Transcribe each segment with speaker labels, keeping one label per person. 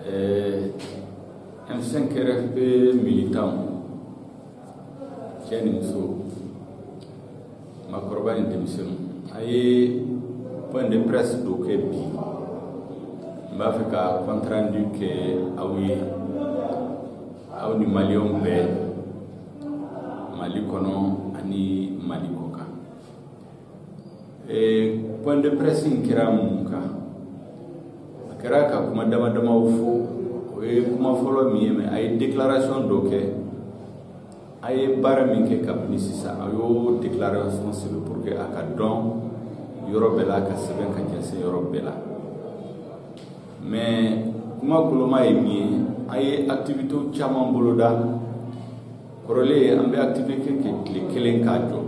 Speaker 1: Ɛɛ an sen kɛra bɛ mi tan cɛ ni muso makɔrɔba ni denmisɛnnin a ye pan de pɛsi dɔ kɛ bi n b'a fɛ ka kɔntanranju kɛ aw ye aw ni maliw bɛɛ mali kɔnɔ ani mali kɔ point de presse in kɛra mun kan a kɛra ka kuma dama damaw fɔ o ye kuma fɔlɔ min ye mɛ an ye déclaration dɔ kɛ an ye baara min kɛ kabini sisan an y'o déclaration sɛbɛn pour que a ka dɔn yɔrɔ bɛɛ la ka sɛbɛn ka jɛnsɛn yɔrɔ bɛɛ la mais kuma koloma ye min ye an ye activité caman boloda kɔrɔlen an bɛ activité kɛ tile kelen k'a jɔ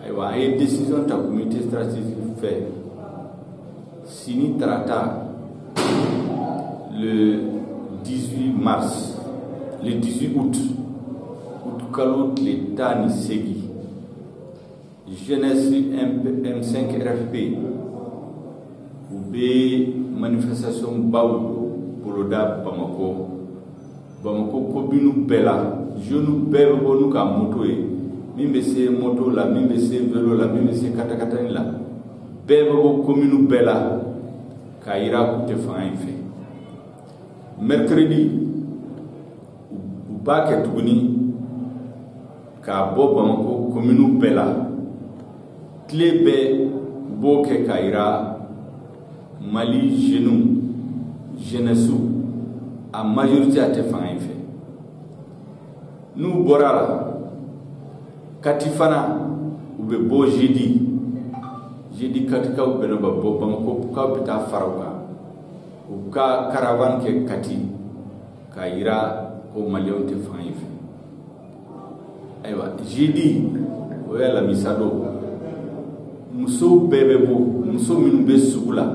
Speaker 1: ayiwa an ye décision ta comité stratégique fɛ sini tarata le 18 mars le 18 août août kalo tile tan ni seegin Jeunesse M5 RFP u bɛ manifestation baw boloda Bamakɔ, Bamakɔ commune bɛɛ la jeunes bɛɛ bɛ bɔ n'u ka moto ye min bɛ se moto la min bɛ se velo la min bɛ se katakatani la bɛɛ bɛ bɔ commune bɛɛ la k'a jira k'u tɛ fanga in fɛ mercredi u b'a kɛ tuguni ka bɔ bamakɔ kominiw bɛɛ la tile bɛɛ b'o kɛ k'a jira mali zenu jenɛsiw a majorite a tɛ fanga in fɛ n'u bɔra a la kati fana u bɛ bɔ zedi zedi katikaw bɛna bɔ bamakɔkaw bɛ taa fara u kan u ka karavan kɛ kati k'a jira ko maliyɛnw tɛ fanga in fɛ ayiwa zedi o ye alamisa don musow bɛɛ bɛ bɔ muso minnu bɛ sugu la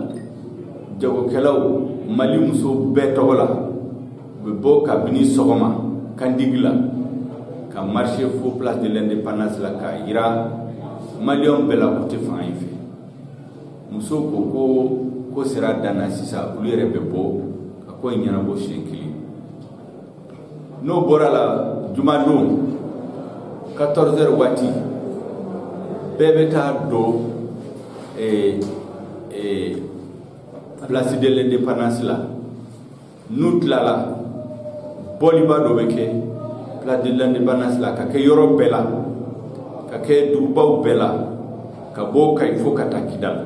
Speaker 1: jagokɛlaw mali musow bɛɛ tɔgɔ la u bɛ bɔ kabini sɔgɔma kandigi la ka marche fo place de l'indépendance la k'a jira maliyɛnw bɛɛ la k'u tɛ fanga in fɛ musow ko ko ko sera dan na sisan olu yɛrɛ bɛ bɔ ka ko in ɲɛnabɔ siɲɛ kelen n'o bɔra la jumadon 14 heures waati bɛɛ bɛ taa don eh, eh, place de l'indépendance la n'u tilala bɔliba dɔ bɛ kɛ place de l'indépendance la ka kɛ yɔrɔ bɛɛ la ka kɛ dugubaw bɛɛ la ka bɔ kayi fo ka taa kidali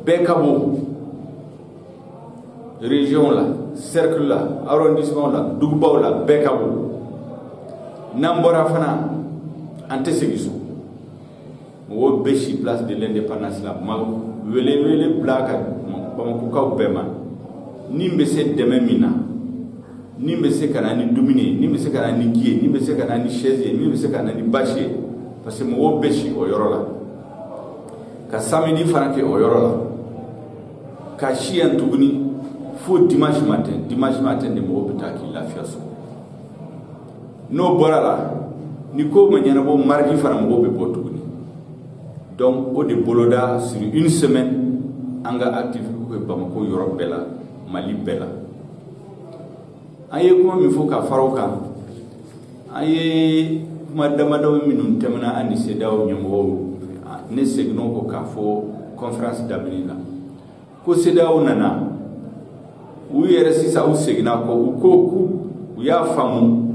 Speaker 1: bɛɛ ka bɔ région la cercle la arrondissement la dugubaw la bɛɛ ka bɔ n'an bɔra fana an tɛ segin so mɔgɔw bɛ si place de l'indépendance la an bɛ welewele bila ka bamakokaw bɛɛ ma n'i bɛ se dɛmɛ min na n'i bɛ se ka na ni dumuni ye n'i bɛ se ka na ni ji ye n'i bɛ se ka na ni chaise ye min bɛ se ka na ni bâche ye parce que mɔgɔw bɛ si o yɔrɔ la ka samedi fana kɛ o yɔrɔ la ka si yan tuguni fo dimanche matin dimanche matin de mɔgɔw bɛ taa k'i lafiya so n'o bɔra la ni ko ma ɲɛnabɔ mardi fana mɔgɔw bɛ bɔ tuguni donc o de boloda sur une semaine an ka activité bɛ bamako yɔrɔ bɛɛ la mali bɛɛ la an ye kuma min fɔ ka fara o kan an ye kuma damadɔ minnu tɛmɛna an ni CEDEAO ɲɛmɔgɔw ne seginna o kɔ k'a fɔ kɔnferansi daminɛ la ko CEDEAO nana u yɛrɛ sisan u seginna kɔ u ko k'u u y'a faamu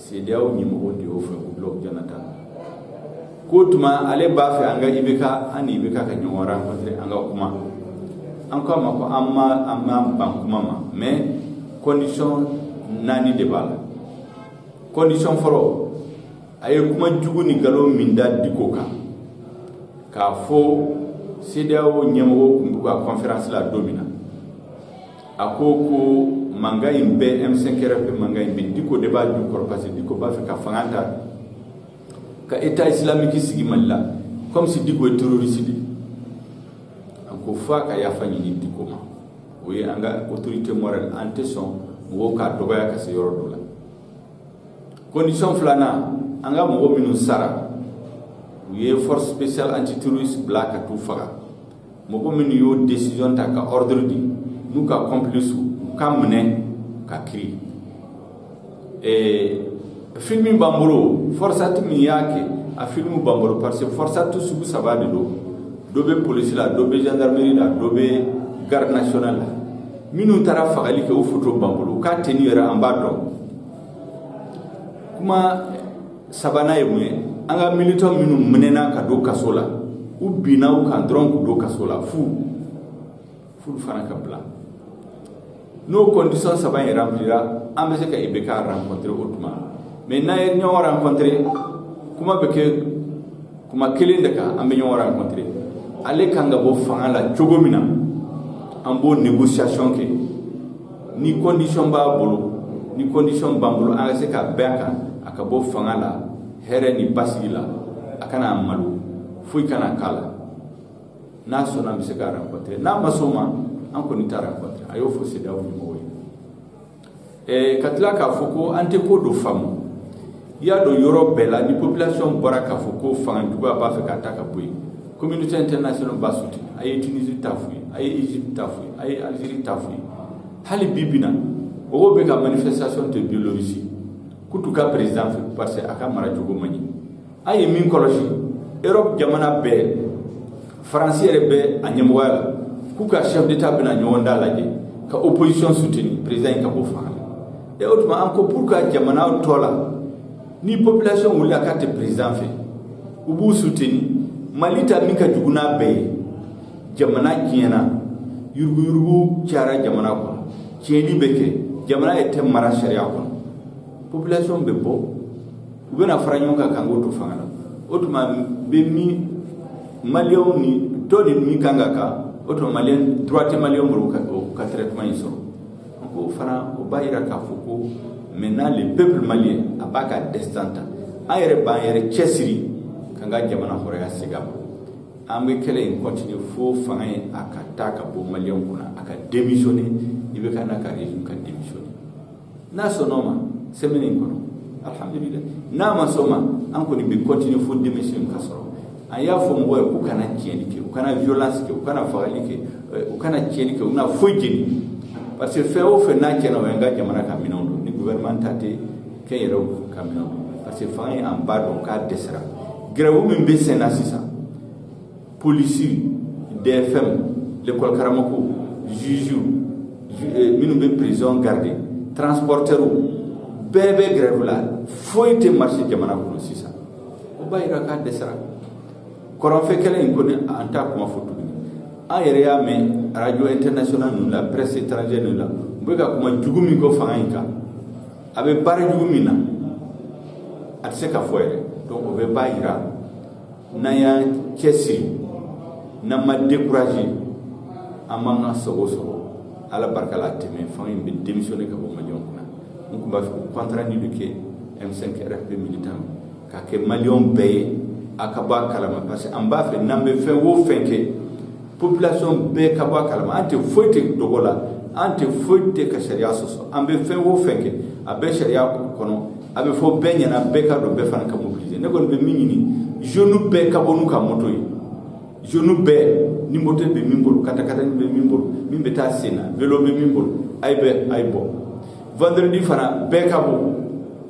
Speaker 1: CEDEAO ɲɛmɔgɔ de y'o fɔ Goodluck Jonathan, k'o tuma ale b'a fɛ an ka IBK, an ni IBK ka ɲɔgɔn rencontrer an ka kuma, an k'a ma ko an ma an m'an ban kuma ma mais condition naani de b'a la, condition fɔlɔ, a ye kuma jugu ni nkalon min da Diko kan, k'a fɔ CEDEAO ɲɛmɔgɔw tun b'u ka conférence la don min na, a ko ko mankan in bɛɛ M5 RFP mankan in bɛɛ Diko de b'a jukɔrɔ parce que Diko b'a fɛ ka fanga ta ka État islamique sigi Mali la comme si Diko ye terroriste de ye an ko f'a ka yafa ɲini Diko ma o ye an ka autorité morale an tɛ sɔn mɔgɔw k'a dɔgɔya ka se yɔrɔ dɔ la condition filanan an ka mɔgɔ minnu sara u ye force spéciale antiterroriste bila ka t'u faga mɔgɔ minnu y'o desizɔn ta ka ɔridiri di n'u ka kɔnpilisiw u ka minɛ ka kiri eh, filimi b'an bolo fɔrisati min y'a kɛ a filimu b'an bolo parce que fɔrisati sugu saba de don dɔ bɛ polisi la dɔ bɛ gendarmerie la dɔ bɛ garde nationale la minnu taara fagali kɛ u foto b'an bolo u ka tenue yɛrɛ an b'a dɔn kuma sabanan ye mun ye an ka militants minnu minɛna ka don kaso la u binna u kan dɔrɔn k'u don kaso la f'u f'olu fana ka bila n'o condition saba in remplira an bɛ se ka IBK rencontrer o tuma mais n'an ye ɲɔgɔn rencontrer kuma bɛ kɛ kuma kelen de kan an bɛ ɲɔgɔn rencontrer ale kan ka bɔ fanga la cogo min na an b'o négociation kɛ ni condition b'a bolo ni condition b'an bolo an ka se ka bɛn a kan a ka bɔ fanga la hɛrɛ ni basigi la a kana malo foyi kana k'a la n'a sɔnna an bɛ se k'a rencontrer n'a ma sɔn o ma an kɔni t'a rencontrer an y'o fɔ CEDEAO ɲɛmɔgɔw ye ka tila k'a fɔ ko an tɛ ko dɔ faamu i y'a dɔn yɔrɔ bɛɛ la ni population bɔra k'a fɔ ko fanga juguya b'a fɛ k'a ta ka bɔ yen communauté internationale b'a soutenir an ye Tunisie ta f'u ye an ye Egypte ta f'u ye an ye Algérie ta f'u ye hali bi bi na mɔgɔw bɛ ka manifestation to Biélorussie k'u t'u ka président fɛ parce que a ka mara cogo man ɲi an ye min kɔlɔsi Europe jamana bɛɛ France yɛrɛ bɛ a ɲɛmɔgɔya la k'u ka chef d'état bɛna ɲɔgɔn dalajɛ ka opposition soutenir président in ka bɔ fanga la E o tuma an ko pourquoi jamana tɔw la ni population wulila k'a tɛ président fɛ u b'u soutenir Mali ta min ka jugu n'a bɛɛ ye jamana tiɲɛna yuruguyurugu cayara jamana kɔnɔ tiɲɛni bɛ kɛ jamana yɛrɛ tɛ mara sariya kɔnɔ population bɛ bɔ u bɛna fara ɲɔgɔn kan k'an k'o to fanga la o tuma bɛ min maliyɛnw ni tɔw de man kan ka kan o tuma maliyɛn droit tɛ maliyɛn bolo ka traitement in sɔrɔ ko fana o b'a jira k'a fɔ ko maintenant le peuple malien a b'a ka destin ta an yɛrɛ b'an yɛrɛ cɛsiri k'an ka jamana hɔrɔnya segin a ma an bɛ kɛlɛ in continuer fo fanga in a ka taa ka bɔ maliyɛnw kunna a ka démissionner IBK n'a ka régime ka démissionner n'a sɔnna o ma semaine in kɔnɔ alhamdulilayi n'a ma sɔn o ma an kɔni bɛ continuer fo démission ka sɔrɔ an y'a fɔ mɔgɔw ye k'u kana tiɲɛni kɛ u kana violence kɛ u kana fagali kɛ u kana tiɲɛni kɛ u kana foyi jeni parce que fɛn o fɛn n'a tiɲɛna o y'an ka jamana ka minɛnw don ni gouvernement ta tɛ kɛnyɛrɛw ka minɛnw don parce que fanga in an b'a dɔn k'a dɛsɛra grève min bɛ sen na sisan polisi DFM l'école karamɔgɔw juge eh, minnu bɛ prison garde transporteurs bɛɛ bɛ grève la foyi tɛ marcher jamana kɔnɔ sisan o b'a jira k'a dɛsɛra kɔrɔnfɛ kɛlɛ in kɔni an t'a kuma fɔ tuguni an yɛrɛ y'a mɛn radio international ninnu la presse étrangère ninnu la u bɛ ka kuma jugu min fɔ fanga in kan a bɛ baara jugu min na a tɛ se ka fɔ yɛrɛ donc o bɛɛ b'a jira n'an y'an cɛsiri n'an ma découragé an b'an ka sago sɔrɔ ala barika la a tɛ mɛɛn fanga in bɛ démissionner ka bɔ maliyɛnw kunna n tun b'a fɛ ka compte rendu min kɛ M5 RFP militant k'a kɛ maliyɛnw bɛɛ ye a ka bɔ a kalama parce que an b'a fɛ n'an bɛ fɛn o fɛn kɛ population bɛɛ ka bɔ a kalama an tɛ foyi tɛ dogo la an tɛ foyi tɛ ka sariya sɔsɔ an bɛ fɛn o fɛn kɛ a bɛ sariya kɔnɔ a bɛ fɔ bɛɛ ɲɛna bɛɛ k'a dɔn bɛɛ fana ka mobiliser ne kɔni bɛ min ɲini jeune bɛɛ ka bɔ n'u ka moto ye jeune bɛɛ ni moto bɛ min bolo katakatani bɛ min bolo min bɛ taa sen na velo bɛ min bolo a ye bɛɛ a ye bɔ vendredi fana bɛɛ ka bɔ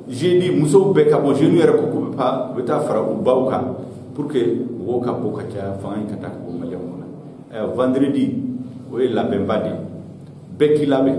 Speaker 1: jeudi musow bɛɛ ka bɔ jeunes yɛrɛ ko k'u bɛ taa u bɛ taa fara u baw kan pour que mɔgɔw ka bɔ ka caya fanga in ka taa ka bɔ maliyɛnw kun na vendredi o ye labɛnba de ye bɛɛ k'i labɛn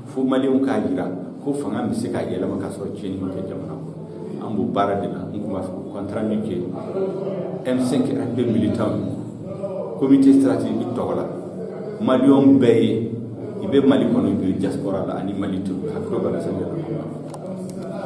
Speaker 1: fo maliyɛnw k'a jira ko fanga bɛ se ka yɛlɛma ka sɔrɔ tiɲɛni ma kɛ jamana kɔnɔ an b'o baara de la n tun b'a fɛ ka compte rendu min kɛ M5 RFP militant comité stratégique tɔgɔ la maliyɛn bɛɛ ye i bɛ mali kɔnɔ i bɛ diaspora la ani mali to hakili bala sɛbɛn